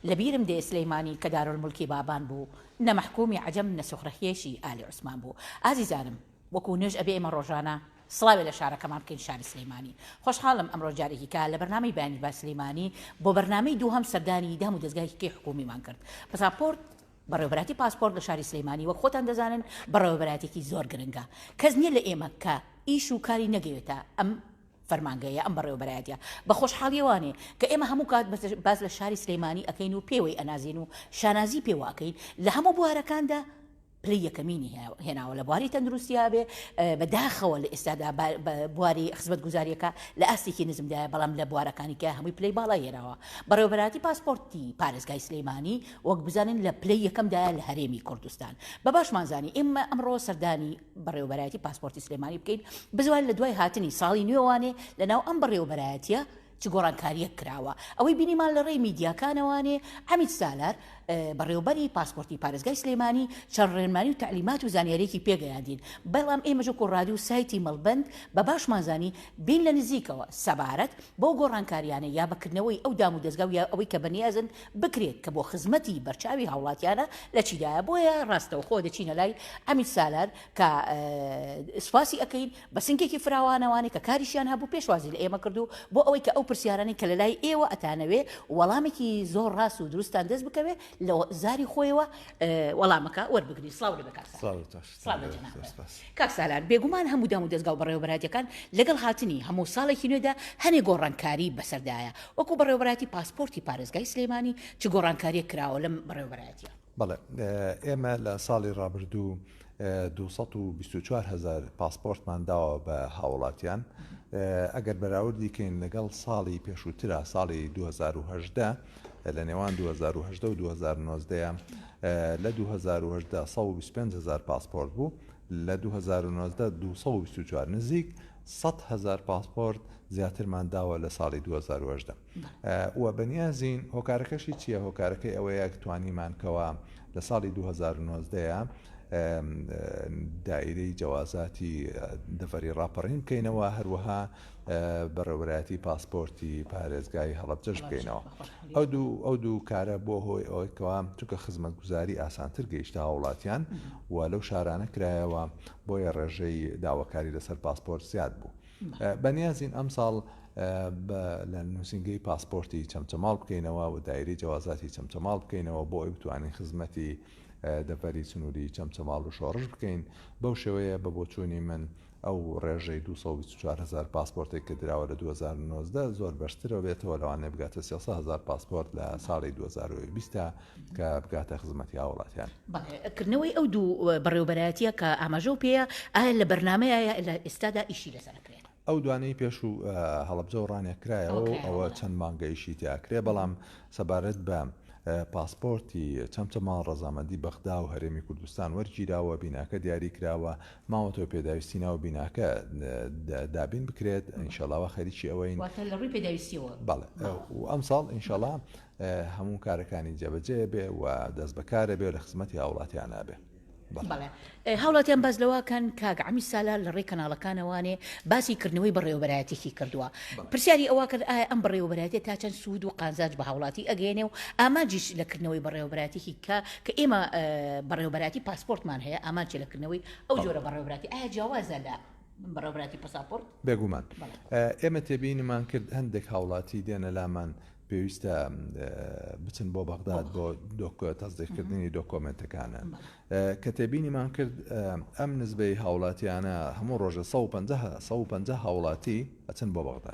لەبیرم دێ سلیمانی کە دارولمولکی بابان بوو نە مەحکومی عەجەم نە سوخرەهێشی ئالی عوسمان بوو ئازیزانم وەکو نوێژ ئەبێ ئێمە ڕۆژانە سڵاوێ لە شارەکەمان بکەین شاری سلیمانی خۆشحاڵم ئەمڕۆ جارێکی کا لە بەرنامەی بەیانی بە سلیمانی بۆ بەرنامەی دووهەم سەردانی دام و دەزگایهکەی حکومیمان کرد پساپۆرت بەڕێوەبەراتی پاسپۆرت لە شاری سلیمانی وەک خۆتان دەزانن بەڕێوەبەراتێکی زۆر گرنگە کەس نیە لە ئێمە کە ئیش و کاری نەگەوێتە ئەم فەرمانگەیە ئەم بەڕێوەبەرایەتیە بە خۆشحاڵیەوانێ کە ئێمە هەموو کات باس لە شاری سلێمانی ئەکەین و پێوەی ئەنازێن و شانازی پێوە ئەکەین لە هەموو بوارەکاندا پلەی یەکەمینی هێناوە لە بواری تەندروستیا بێ بە داخەوە لە ئێستادا بواری خزمەت گوزاریەکە لە ئاستێکی نزمدایە بەڵام لە بوارەکانی کە هەمووی پلەی باڵا هێناوە بەڕێوبەراتی پاسپۆرتی پارێزگای سلەیمانی وەک بزانین لە پلەی یەکەمدایە لە هەرێمی کوردستان بە باشمانزانی ئێمە ئەمڕۆ سەردانی بەڕێوەبەرایەتی پاسپۆرتی سلێمانی بکەین بزوان لەدوای هاتنی ساڵی نوێ وانێ لەناو ئەم بەڕێوەبەرایەتیە چ گۆڕانکاریەک کراوە ئەوەی بینیمان لە ڕێی میدیاکانەوانێ عمید سالار بەڕێوبەری پاسپۆرتی پارێزگای سلێمانی چەند ڕێنمانی و تعلیمات و زانیارێکی پێگەیاندین بەڵام ئێمەژە کۆڕادی و سایتی مەڵبند بە باشمانزانی بین لە نزیکەوە سەبارەت بۆ گۆڕانکاریانە یا بەکردنەوەی ئەو دام و دەستگا و یا ئەوەی کە بەنیازن بکرێت کە بۆ خزمەتی بەرچاوی هاوڵاتیانە لە چیدایە بۆیە ڕاستەوخۆ دەچینە لای عەمید سالار کە سوپاسی ئەکەین بە سنگێکی فراوانەوانەی کە کاریشیان هەبوو پێشوازی لە ئێمە کردو بۆ ئەوەی کە ئەو پرسیارانەی کە لە لای ئێوە ئەتانەوێ وەڵامێکی زۆر ڕاست و دروستتان دەست بکەوێ لە زاری خۆیەوە وەڵامەکە وەربگرین سڵاو لەبەر کاک سالار. سڵاو لە جەنابت کاک سالار، بێگومان هەموو دام و دەزگا و بەڕێوەبەرایەتیەکان لەگەڵ هاتنی هەموو ساڵێکی نوێدا هەنێ گۆڕانکاری بەسەردایە، وەکو بەڕێوەبەرایەتی پاسپۆرتی پارێزگای سلێمانی چ گۆڕانکاریەک کراوە لەم بەڕێوەبەرایەتیە؟ بەڵێ ئێمە لە ساڵی ڕابردوو دوو سەد و بیست و چوار هەزار پاسپۆرتمان داوە بە هاوڵاتیان ئەگەر بەراوردی کەین لەگەڵ ساڵی پێشووترا ساڵی 2010 لە نێوان 2010 و 2019 لە دوو هەزار و هەژدە سەد و بیست و پێنج هەزار پاسپۆرت بوو، لە دوو هەزار و نۆزدە دوو سەد و بیست و چوار نزیک سەد هەزار پاسپۆرت زیاترمان داوە لە ساڵی دوو هەزار و هەژدە و بەنیازین هۆکارەکەشی چییە هۆکارەکەی ئەوەیە توانیمان کەوا لە ساڵی دوو هەزار و نۆزدە دایرەی جەوازاتی دەڤەری ڕاپەڕین بکەینەوە هەروەها بەڕێوەبەرایەتی پاسپۆرتی پارێزگای هەڵەبجەش بکەینەوە ئەو دوو ئەو دوو کارە بۆ هۆی ئەوەی کەوا چونکە خزمەتگوزاری ئاسانتر گەیشتە هاوڵاتیان و لەو شارانە کرایەوە بۆیە ڕێژەی داواکاری لەسەر پاسپۆرت زیاد بوو بەنیازین ئەم ساڵ لە نووسنگەی پاسپۆرتی چەمچەماڵ بکەینەوە و دایری جیازاتی چەمچەماڵ بکەینەوە بۆ ئەوی بتوانین خزمەتی دەڤەری سنووری چەمچەماڵ و شۆڕش بکەین بەو شێوەیە بە بۆچوونی من ئەو ڕێژەی دوو سەد و بیست و چوار هەزار پاسپۆرتێک کە دراوە لە دوو هەزار و نۆزدە زۆر بەرزترەوە بێتەوە، لەوانەیە بگاتە سێ سەد هەزار پاسپۆرت لە ساڵی دوو هەزار و بیست دا کە بگاتە خزمەتی هاووڵاتیان. بەڵێ، کردنەوەی ئەو دوو بەڕێوەبەرایەتییە کە ئاماژەو پێیە، ئایا لە بەرنامەیە لە ئێستادا ئیشی لەسەر ئەکرێت؟ ئەو دوانەی پێشوو هەڵەبجەو ڕانیە کرایەوە و ئەوە چەند مانگە ئیشی تیا کرێ، بەڵام سەبارەت بە پاسپۆرتی چەمچەماڵ ڕەزامەندی بەغدا و هەرێمی کوردستان وەرگیراوە، بیناکە دیاری کراوە، ماوەتەوە پێداویستی ناو بیناکە دابین بکرێت ئینشاڵا وا خەریکی ئەوەین واتە لە ڕووی پێداویستیەوە بەڵێ و ئەمساڵ ئینشاڵا هەموو کارەکانی جێبەجێ بێ و دەست بەکارە بێ و لە خزمەتی هاوڵاتیان نابێ بەڵێ هاوڵاتیان باز لەواکەن کاک ئەمی سالا لە ڕێی کەناڵەکانەوانێ باسی کردنەوەی بەڕێوەبەرایەتێکی کردووە پرسیاری ئەوە کرد ئایا ئەم بەڕێوەبەرایەتێ تا چەند سوود و قازانج بە هاوڵاتی ئەگەێنێ و ئامانجیش لە کردنەوەی بەڕێوەبەراتێکی کە کە ئێمە بەڕێوەبەراتی پاسپۆرتمان هەیە ئامانچە لە کردنەوەی ئەو جۆرە بەڕێوەبراتی ئایا جیاوازە لە بەڕێوەبراتی پەساپۆرت؟ بێگومان ئێمە تێبینیمان کرد هەندێک هاوڵاتی دێنە لامان پێویستە بچن بۆ بەغداد بۆ دۆکۆ تەزدیکردنی دۆکۆمنتەکانە کە تێبینیمان کرد ئەم نزبەی هاوڵاتیانە هەموو ڕۆژە 150 هاوڵاتی ئەچن بۆ بەغدا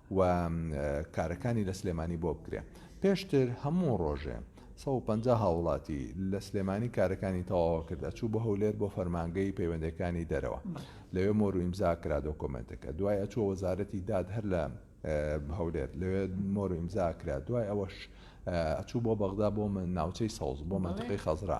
و کارەکانی لە سلێمانی بۆ بکرێ پێشتر هەموو ڕۆژێ سەد و پەنجا هاوڵاتی لە سلێمانی کارەکانی تەواوە کرد ئەچوو بە هەولێر بۆ فەرمانگەی پەیوەندەکانی دەرەوە لەوێ مۆر و ئیمزا کرا دۆکۆمنتەکە دوای ئەچووە وەزارەتی داد هەر لە هەولێر لەوێ مۆر و ئیمزا کرا دوای ئەوەش ئەچوو بۆ بەغدا بۆ من ناوچەی سەوز بۆ منتقی خەزرا.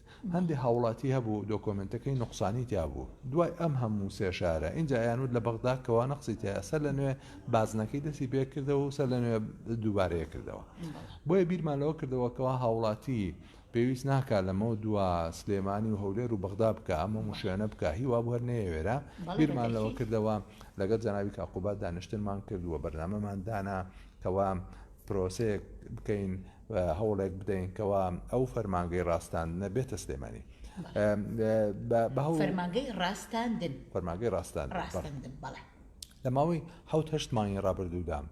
هەندێ هاوڵاتی هەبوو دۆکۆمێنتەکەی نوقسانی تیابوو دوای ئەم هەموو سێ شارە ئینجا ئەیانوت لە بەغدا کەوا نەقسی تیایە سەر لە نوێ بازنەکەی دەستی پێ کردەوە و سەر لە نوێ دووبارەیە کردەوە بۆیە بیرمان لەوە کردەوە کەوا هاوڵاتی پێویست ناکا لەمە دوا سلێمانی و هەولێر و بەغدا بکە ئەمە مشوێنە بکە هیوا بووەر نەیەوێرە بیرمان لەوە کردەوە لەگەڵ جەناوی کاقوبات دانیشتنمان کردووە بەرنامەمان دانا کەوا پرۆسەیەک بکەین هەوڵێک بدەین کەوا ئەو فەرمانگەی ڕاستاندنە بێتە سلێمانی فەرمانگەی ڕاستاندن فەرمانگەی ڕاستان ڕاستاندن بەڵێ لە ماوەی حوت هەشت مانگی ڕابردوودام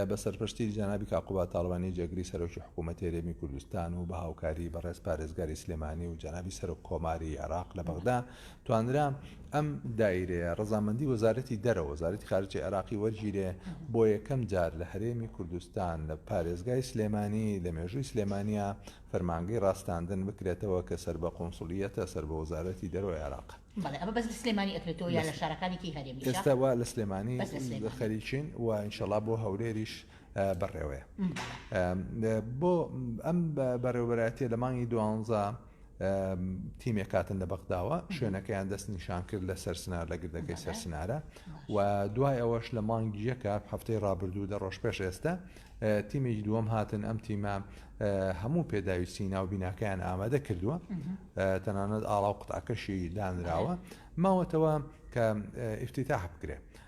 بە سەرپشتی جەنابی کاقوبا تاڵوانی جێگری سەرۆکی حکوومەت هێرێمی کوردستان و بە هاوکاری بەڕێز پارێزگاری سلێمانی و جەنابی سەرۆک کۆماری عێراق لە بەغدا توانرا ئەم دایرەیە ڕەزامەندی وەزارەتی دەرەوە، وەزارەتی خارجی عێراقی وەرگیرێ، بۆ یەکەم جار لە هەرێمی کوردستان لە پارێزگای سلێمانی لە مێژووی سلێمانیا فەرمانگەی ڕاستاندن بکرێتەوە کە سەر بە قونسڵییەتە سەر بە وەزارەتی دەرەوەی عێراق. بەڵێ ئەمە بەس لە سلێمانی ئەکرێتەوە یان لە شارەکانی تری هەرێمیشە؟ ئێستا وا لە سلێمانی خەریکین و ئینشەڵا بۆ هەولێریش بەڕێوەیە. بۆ ئەم بەڕێوەبەرایەتییە لە مانگی دوانزە تیمێک کاتن لە بەغداوە شوێنەکەیان دەست نیشان کرد لە سەرسنار لە گردەکەی سەرسنارە و دوای ئەوەش لە مانگی یەکە هەفتەی ڕابردوو دە ڕۆژ پێش ئێستا تیمێکی دووەم هاتن ئەم تیمە هەموو پێداویستی ناو بیناکەیان ئامادە کردووە تەنانەت ئاڵا و قوتاکەشی دانراوە ماوەتەوە کە ئفتیتاح بکرێت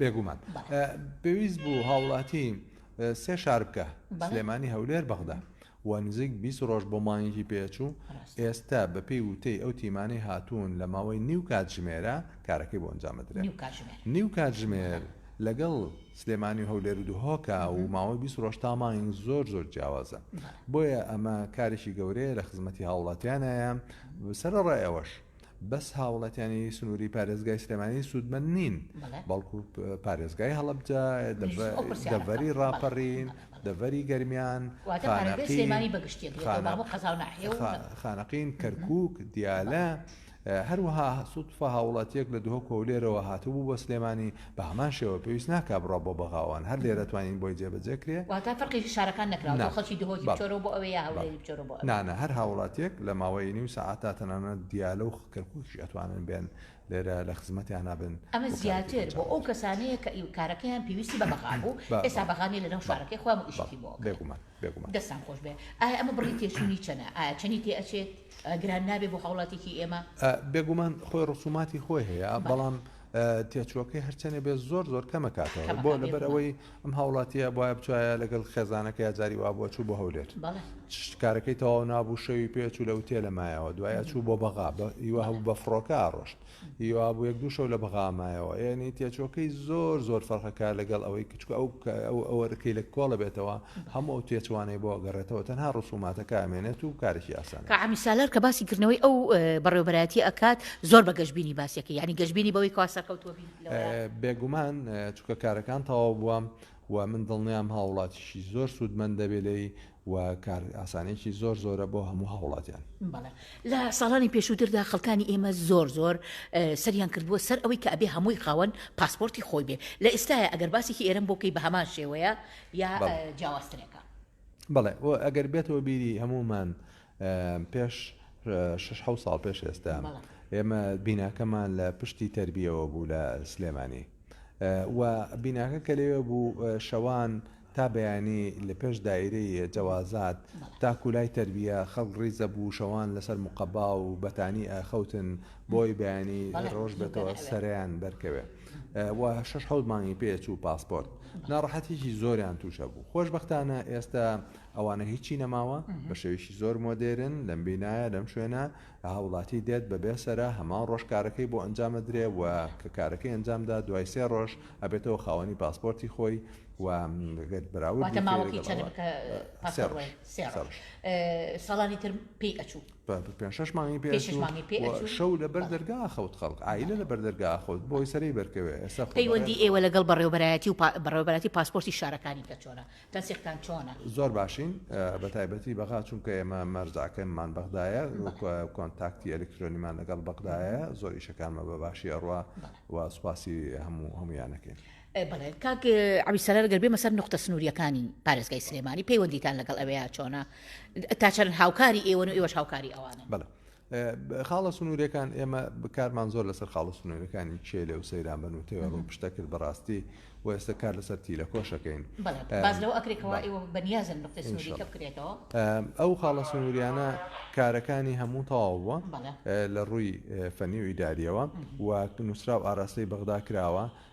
بێگومان پێویست بوو هاوڵاتی سێ شار بکە سلێمانی هەولێر بەغدا و نزیک بیست ڕۆژ بۆ مانگی پێچوو ئێستا بەپێی وتەی ئەو تیمانەی هاتوون لە ماوەی نیو کاتژمێرە کارەکەی بۆ ئەنجامدرێت نیو کاتژمێر لەگەڵ سلێمانی و هەولێر و دهۆکە و ماوەی بیست ڕۆژ تا مانگ زۆر زۆر جیاوازە بۆیە ئەمە کارێکی گەورەیە لە خزمەتی هاوڵاتیانایە سەرڕایەوەش بەس هاوڵاتیانی سنوری پارێزگای سلێمانی سوودمەند نین بەڵکو پارێزگای هەڵبجە دەڤەری ڕاپەڕین دەڤەری گەرمیان خانەقین کەرکک دیالە هەروەها سوودفە هاوڵاتیەک لە دهۆک هەولێرەوە هاتبوو بە سلێمانی بە هەمان شێوە پێویست ناکا بڕا بۆ بەغاوان هەر لێرە توانین بۆی جێبەجێ کرێ. واتە فەرقی شارەکان نەکراوە بۆ خەڵکی دهۆکی بچۆرەوە بۆ ئەوێ یا هەولێری بچۆرەوە بۆ ئەوێ. نا نا هەر هاوڵاتیەک لە ماوەی نیو سەعات تا تەنانەت دیالە و کەرکوکیش ئەتوانن بێن لێرە لە خزمەتیانا بن. ئەمە زیاتر بۆ ئەو کەسانەیە کە کارەکەیان پێویستی بە بەغا بوو ئێستا بەغا نیە لەناو شارەکەی خۆیان و ئیشێکی بۆ ئەکەن. بێگومان بێگومان. دەستتان خۆش بێ. ئایا ئەمە بڕی تێچووی چەنە؟ ئایا چەنی تێ ئەچێت؟ گران نابێ بۆ هاوڵاتیەکی ئێمە؟ بێگومان خۆی ڕسوماتی خۆی هەیە بەڵام تێچووەکەی هەرچەنێ بێ زۆر زۆر کەمە کاتەوە بۆ لەبەر ئەوەی ئەم هاوڵاتیە بواە بچایە لەگەڵ خێزانەکە یاجاری وا بۆ چوو بۆ هەولێر شتکارەکەی تەواو نابوو شەوی پێچوو لە وتێ لە مایەوە دوایە چوو بۆ بەغا هیوا هەبوو بە فڕۆکە ڕۆشت هیوا بوو یەک دوو شەو لە بەغامایەوە یعنی تێچۆکەی زۆر زۆر فەرقەکە لەگەڵ ئەوەی چونکە ئەو ئەو ئەو ئەرکەی لە کۆڵ بێتەوە هەموو ئەو تێچوانەی بۆ ئەگەڕێتەوە تەنها ڕسوماتەکە ئەمێنێت و کارێکی ئاسان کاک عەمید سالار کە باسی کردنەوەی ئەو بەڕێوەبەرایەتی ئەکات زۆر بە گەشبینی باسی ئەکەی یانی گەشبینی بەوەی کەوا سەرکەوتووە بیت لەوەیە؟ بێگومان چونکە کارەکان تەواو بووە و من دڵنیام هاوڵاتیشی زۆر سوودمەند دەبێ لێی و کار ئاسانیەکی زۆر زۆرە بۆ هەموو هاوڵاتیان. بەڵێ لە ساڵانی پێشووتردا خەڵکانی ئێمە زۆر زۆر سەریان کردبووە سەر ئەوەی کە ئەبێ هەمووی خاوەن پاسپۆرتی خۆی بێ لە ئێستایا ئەگەر باسێکی ئێرەم بۆ کەی بە هەمان شێوەیە یا جیاوازترێکە؟ بەڵێ ئەگەر بێتەوە بیری هەموومان پێش شش حەوت ساڵ پێش ئێستا ئێمە بیناکەمان لە پشتی تربیەوە بوو لە سلێمانی و بیناکە کە لەوێ بوو شەوان تا بەیانی لە پێش دایرەی جەوازات تاکولای تربیە خەڵک ڕیزە بوو شەوان لەسەر مقەبا و بەتانی ئاخەوتن بۆی بەیانی ڕۆژ بێتەوە سەریان بەرکەوێ و شش حەوت مانگی پێچ و پاسپۆرت ناڕەحەتێکی زۆریان تووشە بوو خۆشببختانە ئێستا ئەوانە هیچی نەماوە بە شێوەیەکی زۆر مۆدێرن لەم بینایە لەم شوێنە هاوڵاتی دێت بە بێ سەرا هەمان ڕۆژ کارەکەی بۆ ئەنجام ئەدرێ و کە کارەکەی ئەنجامدا دوای سێ ڕۆژ ئەبێتەوە خاوەنی پاسپۆرتی خۆی و گەر براود واتە ماوەکەی چەندە بکە سێ ڕۆژ سێ ڕۆژ ساڵانی تر پێی ئەچوو پێ شش مانگی پێ شش مانگی پێ ئەچوو شەو لە بەر دەرگا خەوت خەڵک ئایلە لە بەر دەرگا خۆت بۆی سەرەی بەرکەوێ ئێستا پەیوەندی ئێوە لەگەڵ بەڕێوەبەرایەتی و بەڕێوەبەراتی پاسپۆرتی شارەکانی کە چۆنە تەسیقتان چۆنە؟ زۆر باشین بە تایبەتی بەغا چونکە ئێمە مەرجەکەمان بەغدایە کۆنتاکتی ئەلکترۆنیمان لەگەڵ بەغدایە زۆر ئیشەکانمە بە باشی ئەڕوا و سوپاسی هەموو هەمویانەکەین. بەڵێ کاک عەبی سەرەر گەر بێمە سەر نوختە سنووریەکانی پارێزگای سلێمانی پەیوەندیتان لەگەڵ ئەوێیا چۆنە تا چەند هاوکاری ئێوەن و ئێوەش هاوکاری ئەوانن؟ بەڵێ خاڵە سنوورەکان ئێمە بکارمان زۆر لەسەر خاڵە سنوورەکانی چێلێ و سەیران بن و تێوە ڕوو پشتە کرد بەڕاستی و ئێستا کار لەسەر تیلە کۆشەکەین باز لەو ئەکرێکەوە ئێوە بەنیازن نقطەی سنووریکە بکرێتەوە ئەو خاڵە سنووریانە کارەکانی هەموو تەواو بووە لە ڕووی فەنی و ئیداریەوە و نووسرا و ئاراستەی بەغدا کراوە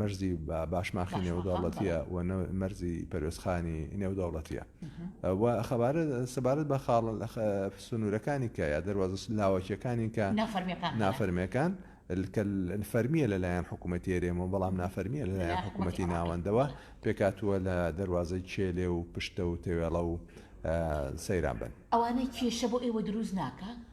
مەرزی باشماخی نێودەوڵەتییە و نە مەرزی پەروێزخانی نێودەوڵەتییە و خەبارە سەبارەت بە خاڵ سنوورەکانی کە یا دەواز لاوەکیەکانی کە نافەرمیەکان فەرمیە لەلایەن حکوومەتی هەرێمەوە بەڵام نافەرمیە لەلایەن حکوومەتی ناوەندەوە پێکاتووە لە دەواازەی چێلێ و پشتە و تەوێڵە و سەیران بن ئەوانەی کێشە بۆ ئێوە دروست ناکە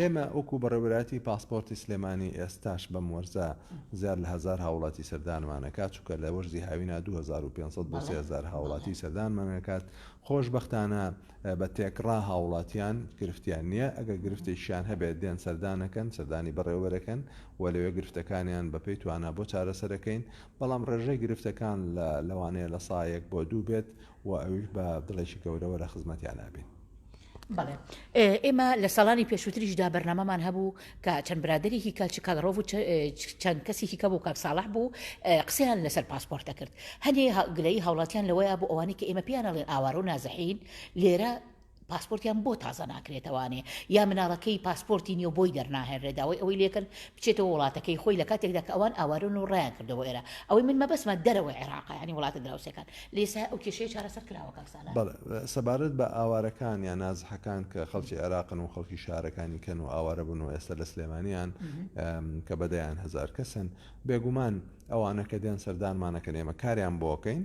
ئێمە وەکو بەڕێوەراتی پاسپۆرتی سلێمانی ئێستاش بەم وەرزە زیاد لە هزار هاوڵاتی سەردانمانەکات چووکە لە وەرزی هاوینا 2500 بۆ 3000 هاوڵاتی سەردانمانەکات خۆشببختانە بە تێکڕا هاوڵاتیان گرفتیان نییە ئەگەر گرفتێکیان هەبێت دێن سەردانەکەن سەردانی بەڕێوەرەکەن و لەوێ گرفتەکانیان بەپی توانە بۆ چارەسەرەکەین بەڵام ڕێژەی گرفتەکان لە لەوانەیە لە سایەک بۆ دوو بێت و ئەویش بە دڵێکی گەورەوە لە خزمەتیانا بین. بەڵێ ئێمە لە ساڵانی پێشووتریشدا بەرنامەمان هەبوو کە چەند برادێکی کاچ کاڵڕۆڤ چەند کەسێکی کە بوو کاک ساڵح بوو قسەیان لەسەر پاسپۆرت دەکرد هەنێ گلەی هاوڵاتیان لەوەیە بۆ ئەوانی کە ئێمە پێیانەڵێن ئاوارە و نازەحین لێرە پاسپۆرتیان بۆ تازە ناکرێتەوانێ یا مناڵەکەی پاسپۆرتی نیەو بۆی دەرناهێنرێ داوای ئەوەی لێکرد بچێتەوە وڵاتەکەی خۆی لە کاتێکدا کە ئەوان ئاوارەن و ڕایان کردە بۆ ئێرە ئەوەی من مەبەستمە دەرەوەی عێراقە یانی وڵاتە دراوسێکان لە ئێستا ئەو کێشەیە چارەسەر کراوە کاک سالار. بەڵێ سەبارەت بە ئاوارەکان یان نازحەکان کە خەڵکی عێراقن و خەڵکی شارەکانی کەن و ئاوارە بوون و ئێستا لە سلێمانیان کە بە دەیان هەزار کەسن بێگومان ئەوانە کە دێن سەردانمانەکەن ئێمە کاریان بۆکەین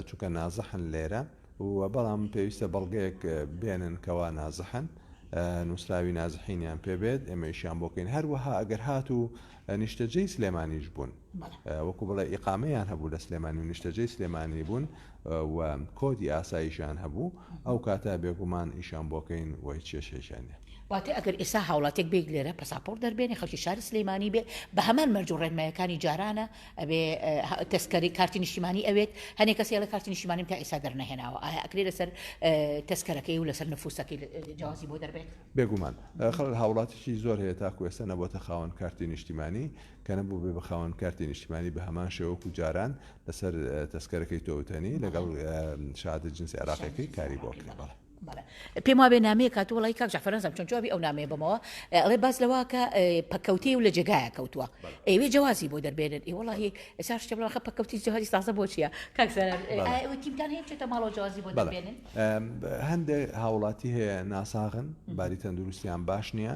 چونکە نازحن لێرە و بەڵام پێویستە بەڵگەیەک بێنن کەوا نازحن نووسراوی نازحینیان پێبێت ئێمەیشیان بۆکەین هەروەها ئەگەر هات و نیشتەجێی سلێمانیش بوون وەکو بڵێ ئیقامەیان هەبوو لە سلێمانی و نیشتەجێی سلێمانی بوون و کۆدی ئاساییشان هەبوو ئەو کاتە بێگومان ئیشان بۆکەین وی چێشێشانە واتی ئەگەر ئێسا هاوڵاتێک بێک لێرە پەساپۆر دەربێنێ خەڵکی شاری سلەیمانی بێ بە هەمان مەرج و ڕێنمایەکانی جارانە ئەبێ کەس کەری کارتی نیشتیمانی ئەوێت هەنێ کەسی ئەڵێ کارتی نیشتیمانیم تا ئێستا دەرنەهێناوە ئایا ئەکرێ لەسەر تەسکەرەکەی و لەسەر نفوسەکەی جیازی بۆ دەربێت بێگومان خەڵ هاوڵاتیی زۆر هەیە تاکو ئێستا نەبووتە خاوەن کارتی نیشتیمانی کە نەبوو بێ بەخاوەن کارتی نیشتیمانی بە هەمان شێوەکو جاران لەسەر تەسکەرەکەی تۆوتەنی لەگەڵ شادە جنسی عراقەکەی کاری بۆ کرێ بەڵێ بەڵێ پێم وابێ نامەیە کات وڵی کاک جعفر نازم چۆن جوابی ئەو نامەیە بمەوە ئەڵێ باز لەواکە پەکەوتی و لە جێگایە کەوتووە ئەوێ جوازی بۆ دەربێنن ئی وڵی ئێسا شتێ بڵخە پەکەوتی جوازی تازە بۆچیە کاکسەرتیمتان هەیە چێتە ماڵەوە جوازی بۆ دەبێنن هەندێک هاوڵاتی هەیە ناساغن باری تەندروستیان باش نییە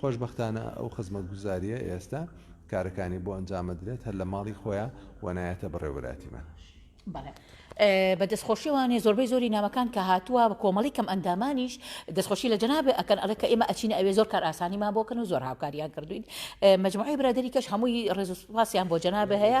خۆشبەختانە ئەو خزمەتگوزارییە ئێستا کارەکانی بۆ ئەنجام ئەدرێت هەر لە ماڵی خۆیا وە نایەتە بەڕێوەراتیمان. بەڵێ بە دەستخۆشی وانێ زۆربەی زۆری نامەکان کە هاتووە بە کۆمەڵی کەم ئەندامانیش دەستخۆشی لە جەنابێ ئەکەن ئەڵێ کە ئێمە ئەچینە ئەوێ زۆر کار ئاسانیمان بۆ کەن و زۆر هاوکاریان کردوین مەجموعەی برادەری کەش هەمووی ڕێز و سوپاسیان بۆ جەنابێ هەیە.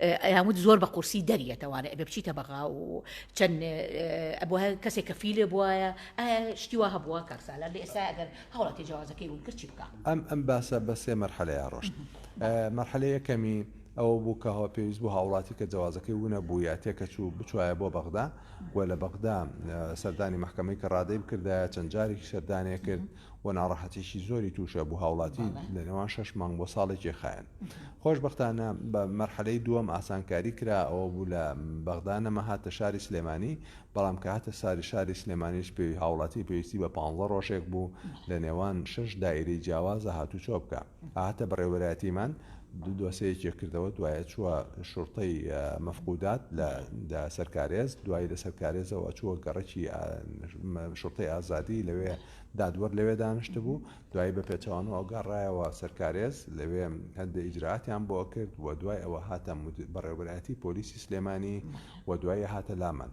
ئەیان وت زۆر بە قورسی دەریەتە وانە ئەبێ بچیتە بەغا و چەند ئەبوایە کەسێک کە فیلێ بوایە ئایا شتی وا هەبووە کاک سالار لە ئێستا ئەگەر هەوڵاتی جیازەکەی بوون کرد چی بکا؟ ئەم ئەم باسە بە سێ مەرحەلەیا ڕۆشت مەرحەلەی یەکەمی ئەوە بوو کە هەوە پێویست بوو هاوڵاتی کە جوازەکەی وونە بووە تێکەچوو بچوایە بۆ بەغدا و لە بەغدا سەردانی محکمەی کە ڕادەی بکردایە چەند جارێکی سەردانێ کرد و ناڕەحەتیی زۆری تووشە بوو هاوڵاتی لە نێوان شەش مانگ بۆ ساڵێکی خایەن خۆشبەختانە بە مەرحەلەی دووەم ئاسانکاری کرا ئەوە بوو لە بەغدا نەما هاتە شاری سلێمانی بەڵام کە هاتە ساری شاری سلێمانیش پێوی هاوڵاتی پێویستی بە پانزە ڕۆژێک بوو لە نێوان شەش دایرەی جیاوازە هاتووچۆ بکا. هاتە بەڕێوەبەرایەتیمان دۆسەیەکێ کردەوە دوایە چووە شوڕتەی مەفقودات لە سەر کارێز دوایی لەسەر کارێزەوە چووە گەڕکی شوڕتەی ئازادی لەوێ دادوەر لەوێ دانیشت بوو دوایی بە پێچوان و ئەوگەڕایەوە سەرکارێز لەوێ هەندە ئیجراتیان بۆ کرد و دوای ئەوە هاتە بەڕێوەبەرایەتی پۆلیسی سلێمانی و دوایی هاتە لامان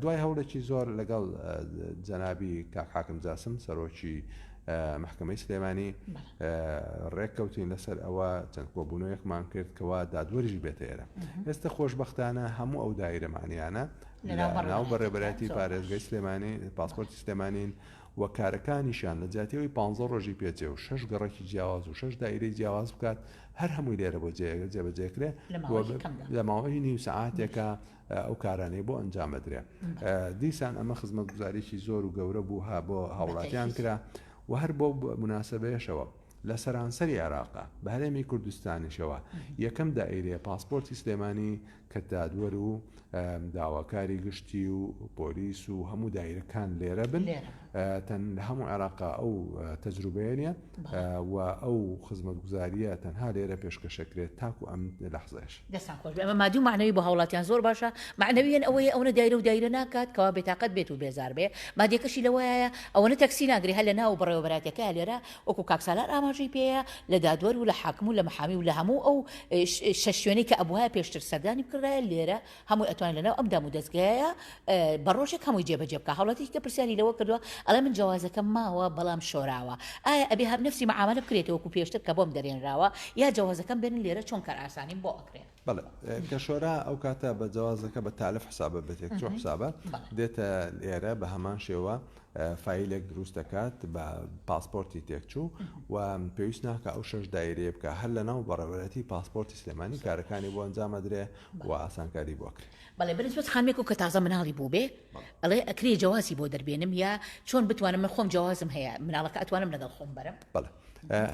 دوای هەوڵێکی زۆر لەگەڵ جەنابی کاک حاکم جاسم سەرۆکی محکمەی سلێمانی ڕێک کەوتین لەسەر ئەوە چەند کۆبوونەوەیەکمان کرد کەوا دادوەریش بێتە ئێرە ئێستا خۆشببختانە هەموو ئەو دایرەمانیانە ناو بە ڕێبەرەتی پارێزگەی سلێمانی پاسپۆرتی سلێمانین و کارەکانیشان لە جاتیەوەی پ ڕۆژی پێچێ و شش گەڕێکی جیاواز و شش دایرەی جیاواز بکات هەر هەمووی لێرە بۆ جێگە جێبەجێکرێ لە ماوەی نیو سعاتێکە ئەو کارانەی بۆ ئەنجام ئەدرێ دیسان ئەمە خزمەتگوزاریی زۆر و گەورە بوو ها بۆ هاوڵاتیان کرا و هەر بۆ مناسبەیەشەوە لە سەرانسەری عێراقا بە هەرێمی کوردستانیشەوە یەکەم دائیرێ پاسپۆرتی سلێمانی کە دادوەر و داواکاری گشتی و پۆلیس و هەموو دایرەکان لێرە بن تەنها هەموو عێراق ئەو تەجروبەیە نیە و ئەو خزمەتگوزاریە تەنها لێرە پێشکەشەکرێت تاکو ئەم لەحزەش. دەستان خۆش بێ ئەمە مادی و مەعنەوی بۆ هاوڵاتیان زۆر باشە مەعنەویەن ئەوەیە ئەونە دایرە و دایرە ناکات کەوا بێتاقەت بێت و بێزار بێ مادیەکەشی لەوەیایە ئەوەنە تەکسی ناگرێ هەر لە ناو بەڕێوەبەراتەکەیا لێرە وەکو کاک سالار ئاماژەی پێیە لە دادوەر و لە حاکم و لە محامی و لە هەموو ئەو شەش شوێنەی کە ئەبوایە پێشتر سەردانی بکردایە لێرە هەمووی ئەتوانێت لە ناو ئەم دام و دەزگایە بە ڕۆژێک هەمووی جێبەجێ بکە هەوڵەتی کە پرسیاری لەوە کردووە ئەڵێ من جیازەکەم ماوە بەڵام شۆراوە ئایا ئەبێ هەب نفسی معاملە بکرێتەوە وەکو پێشتر کە بۆم دەرێنراوە یا جیازەکەم بێنن لێرە چۆن کار ئاسانیم بۆ ئەکرێ بڵێ کە شۆرا ئەو کاتە بە جیازەکە بە تالف حسابە بێتێک چۆ حسابە دێتە لێرە بە هەمان شێوە فیلێک دروست دەکات بە پاسپۆرتی تێکچوو و پێویست ناکە ئەو شش دایرێ بکە هەر لە ناو بەڕێوەتی پاسپۆرتی سلێمانی کارەکانی بۆ ئەنجامەدرێ و ئاسانکاری بۆ ئەکرێ. بەڵێ بەرێز بەس خانمێکو کە تازە مناڵی بووبێ ئەڵێ ئەکرێ جەوازی بۆ دەربێنم یا چۆن بتوانم من خۆم جەوازم هەیە مناڵەکە ئەتوانم لەگەڵ خۆم بەرم بەڵێ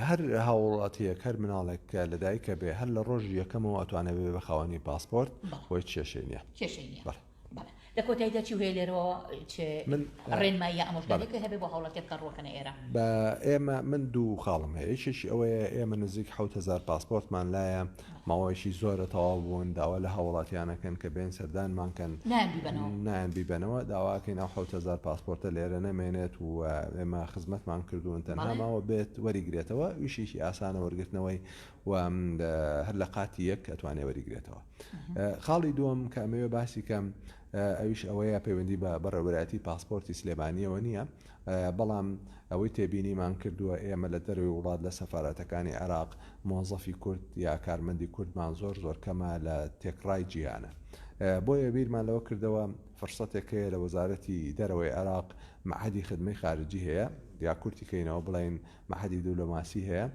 هەر هاوڵاتیەک هەر مناڵێک لەدایکە بێ هەر لە ڕۆژی یەکەمەوە ئەتوانێت بێ بە خاوەنی پاسپۆرت بۆی کێشەی نیە کێشەی نیە. بەڵێ لە کۆتایدا چی هەیە لێرەوە چ من ڕێنمایی یا ئامۆژگاریەکت هەبێ بۆ هاوڵاتیان کە ڕوەکەنە ئێرە؟ بە ئێمە من دوو خاڵم هەیە یەکێکی ئەوەیە ئێمە نزیک حەوت هەزار پاسپۆرتمان لایە ماوەیەکی زۆرە تەواو بوون داوا لە هاوڵاتیانەکەن کە بێن سەردانمان کەن نایان بیبەنەوە نایان بیبەنەوە داواکەین ئەو حەوت هەزار پاسپۆرتە لێرە نەمێنێت و ئێمە خزمەتمان کردوون تەنها بەڵێ. ماوە بێت وەریگرێتەوە ویشێکی ئاسانە وەرگرتنەوەی و هەر لە قاتی یەک ئەتوانێ وەریگرێتەوە خاڵی دووەم کە ئەمەوێ باسی کەم ئەویش ئەوەیە پەیوەندی بە بەڕێوەراتی پاسپۆرتی سلێمانیەوە نییە بەڵام ئەوەی تێبینیمان کردووە ئێمە لە دەروی وڵات لە سەفاەتەکانی عێراق مۆزەفی کورد یا کارمەندی کوردمان زۆر زۆر کەمە لە تێکڕای جیهانە بۆیە بیرمان لەوە کردەوە فرسەتێک هەیە لە وەزارەتی دەرەوەی عێراق معهدی خدمەی خارجی هەیە یا کورتی کەینەوە بڵین معهدی دولۆماسی هەیە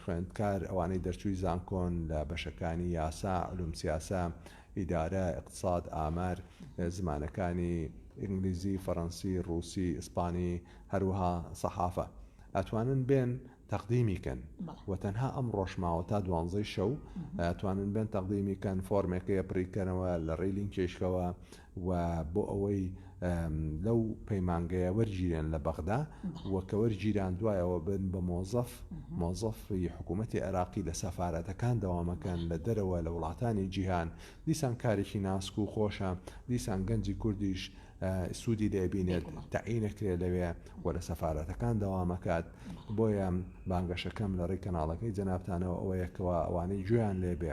خوێندکار، ئەوانەی دەرچووی زانکۆن لە بەشەکانی یاسا، علوم سیاسە، ئیدارە، ئیقتساد، ئامار، زمانەکانی ئینگلیزی، فەرەنسی، ڕووسی، ئیسپانی، هەروەها سەحافە ئەتوانن بێن تەقدیمی کەن و تەنها ئەم ڕۆژماوە تا دوانزەی شەو ئەتوانن بێن تەقدیمی کەن فۆرمێکەیە پڕیکەنەوە لە ڕێی لینکێشکەوە و بۆ ئەوەی لەو پەیمانگەیە وەرگیرێن لە بەغدا و کە وەرگیران دوایەوە بن بە مۆزەف مۆزەفی حکوومەتتی عێراقی لە سەفاەتەکان دەوامەکەن لە دەرەوە لە وڵاتانی جیهان دیسان کارێکی ناسک و خۆشە دیسان گەنجی کوردیش سوودی لێبینێت تەعینەکرێ لەوێ و لە سەفاەتەکان دەوامەکات بۆیە بانگەشەکەم لە ڕێی کەناڵەکەی جەنابتانەوە ئەوەیەکەوە ئەوانەی گوێیان لێبێ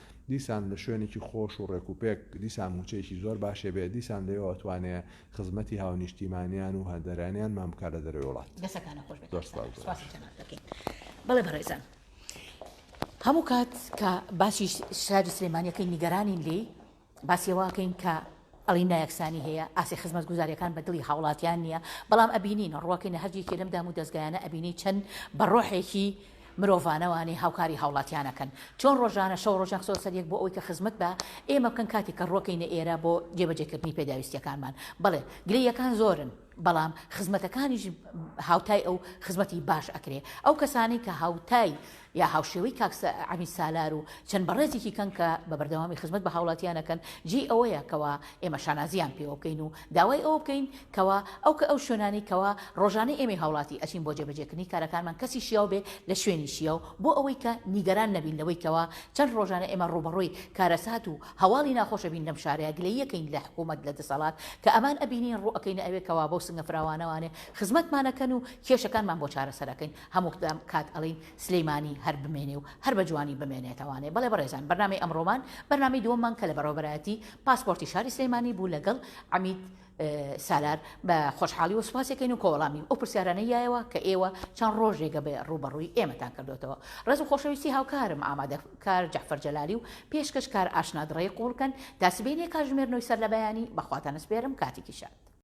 دیسان لە شوێنێکی خۆش و ڕێک و پێک، دیسان مووچەیەکی زۆر باشێ بێ، دیسان لەوێ ئەتوانێ خزمەتی هاونیشتیمانیان و هاندەرانیانمان بکا لە دەرەوەی وڵات. دەستەکانت خۆش بێت کاک سالار سوپاسی جەنابت دەکەین. بەڵێ بەڕێزان هەموو کات کە باسی شاری سلێمانی ئەکەین نیگەرانین لێی باسی ئەوە ئەکەین کە، ئەڵێی نایەکسانی هەیە ئاستی خزمەتگوزاریەکان بە دڵی هاوڵاتیان نیە بەڵام ئەبینین ڕوەکەی نە هەر یەکێ لەم دام و دەزگایانە ئەبینی چەند بە ڕۆحێکی مرۆڤانەوانەی هاوکاری هاوڵاتیان ئەکەن چۆن ڕۆژانە شەو ڕۆژ نەخسۆ سەر یەک بۆ ئەوەی کە خزمەت بە ئێمە بکەن کاتێک کە ڕوەکەی نە ئێرە بۆ جێبەجێ کردنی پێداویستیەکانمان بەڵێ گلەییەکان زۆرن بەڵام خزمەتەکانیش هاوتای ئەو خزمەتی باش ئەکرێ ئەو کەسانەی کە هاوتای یا هاوشێوەی کاک عەمید سالار و چەند بەڕێزێکی کەن کە بە بەردەوامی خزمەت بە هاوڵاتیان ئەکەن جێی ئەوەیە کەوا ئێمە شانازییان پێوە بکەین و داوای ئەوە بکەین کەوا ئەو کە ئەو شوێنانەی کەوا ڕۆژانەی ئێمەی هاوڵاتی ئەچین بۆ جێبەجێکردنی کارەکانمان کەسی شیاو بێ لە شوێنی شیاو بۆ ئەوەی کە نیگەران نەبین لەوەی کەوا چەند ڕۆژانە ئێمە ڕووبەڕووی کارەسات و هەواڵی ناخۆش ئەبین لەم شارەیا گلەی ئەکەین لە حکومەت لە دەسەڵات کە ئەمان ئەبینین ڕوو ئەکەینە ئەوێ کەوا بەو سنگە فراوانەوانێ خزمەتمان ئەکەن و کێشەکانمان بۆ چارەسەر ئەکەین هەموو کات ئەڵێین سلیمانی هەر بمێنێ و هەر بە جوانی بمێنێتەوانێ بەڵێ بەڕێزان بەرنامەی ئەمڕۆمان بەرنامەی دووەممان کە لە بەڕێوەبەرایەتی پاسپۆرتی شاری سلیمانی بوو لەگەڵ عەمید سالار، بە خۆشحاڵی و سوپاسی کەین و کۆوەڵامی ئەو پرسیارانەی یایەوە کە ئێوە چەند ڕۆژێگە بە ڕووبەڕووی ئێمەتان کردۆتەوە. ڕێز و خۆشەویستی هاوکارم ئامادە کار جەعفەر جەلالی و پێشکەش کار ئاشنا دڕەی قووڵ کەن تا سبەینێ کاتژمێر نۆی سەرلەبەیانی بە خواتان ئەسپێرم کاتێکی شاد.